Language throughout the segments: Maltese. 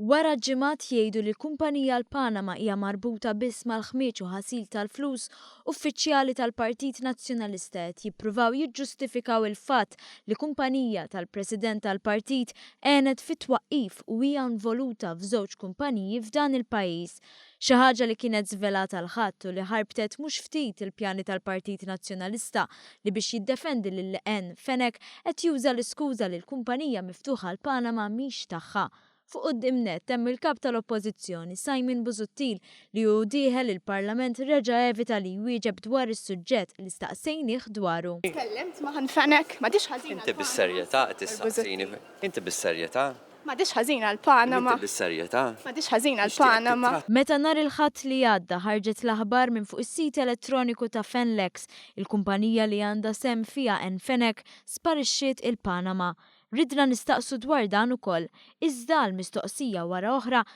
Wara ġimgħat jgħidu li l-kumpanija l-Panama hija marbuta biss mal-ħmieġ u ħasil tal-flus, uffiċjali tal-Partit Nazzjonalista qed jippruvaw jiġġustifikaw il-fatt li kumpanija tal-President tal-Partit għenet fit-twaqqif u hija involuta f'żewġ kumpaniji f'dan il-pajjiż. Xi ħaġa li kienet żvelata għal ħadd u li ħarbtet mhux ftit il-pjani tal-Partit Nazzjonalista li biex jiddefendi lil Leqgħen Fenech qed juża l-iskuża li l-kumpanija miftuħa għal Panama mhix tagħha. Fuq quddiem nett hemm il-Kap tal-Oppożizzjoni Simon Busuttil li hu dieħel il-Parlament reġa' evita li jwieġeb dwar is-suġġett li staqsejnieh dwaru. Tkellimt ma' Leqgħen Fenech? M'għadhiex ħażina l-Panama? Inti bis-serjetà qed tistaqsini? Inti bis-serjetà? M'għadhiex ħażina l-Panama. M'għadhiex ħażina l-Panama. Meta nhar il-Ħadd li għadda ħarġet l-aħbar minn fuq is-sit elettroniku ta' Fenlex, il-kumpanija li għandha sehem fiha Anne Fenech sparixxiet il-Panama. Ridna nistaqsu dwar dan ukoll, iżda għal mistoqsija wara oħra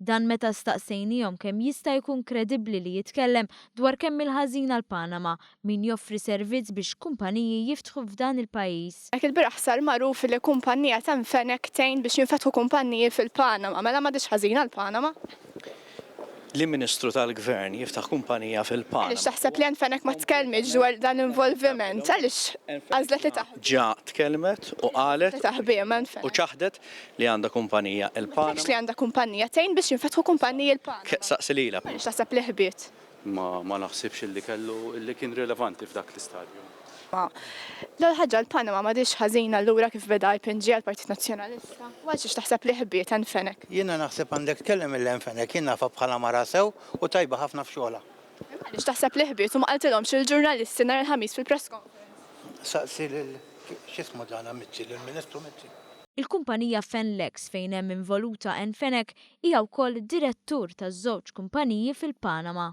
Dan meta staqsejniehom kemm jista' jkun kredibbli li jitkellem dwar kemm il-ħażin għal Panama min joffri servizz biex kumpaniji jiftħu f'dan il-pajjiż. Jekk il-bieraħ sar magħruf li kumpannija temm Fenech tgħin biex jinfetħu kumpanniji fil-Panama, mela m'għadhiex ħażin għal Panama? Li Ministru tal-Gvern jiftaħ kumpanija fil-Panama. Għaliex taħseb li Anne Fenech ma tkellmitx dwar dan l-involviment? Għaliex għażlet li taħbihom? Ġa tkellmet u qalet u ċaħdet li għandha kumpanija il-Panama. Ma tgħidx li għandha kumpanija, tgħin biex jinfetħu kumpaniji l-Panama. Saqsi lilha. Għaliex taħseb li ħbiet? Ma ma naħsibx illi kellu illi kien rilevanti f'dak l-istadju. Ma l-ewwel ħaġa l-Panama m'għadhiex ħażina allura kif beda IPNG għall-Partit Nazzjonalista. U għalxiex taħseb li ħbiet Anne Fenech? Jiena naħseb għandek tkellem lil Anne Fenech, jien nafha bħala mara sew u tajba ħafna f'xogħolha. Imma għaliex taħseb li ħbiet u ma qaltilhomx lill-ġurnalisti nhar il-Ħamis fil-press conference? Saqsi lil, x'ismu dan Amici, lill-Ministru Mizzi. Il-kumpanija Fenlex fejn hemm involuta Anne Fenech hija wkoll direttur ta' żewġ kumpaniji fil-Panama.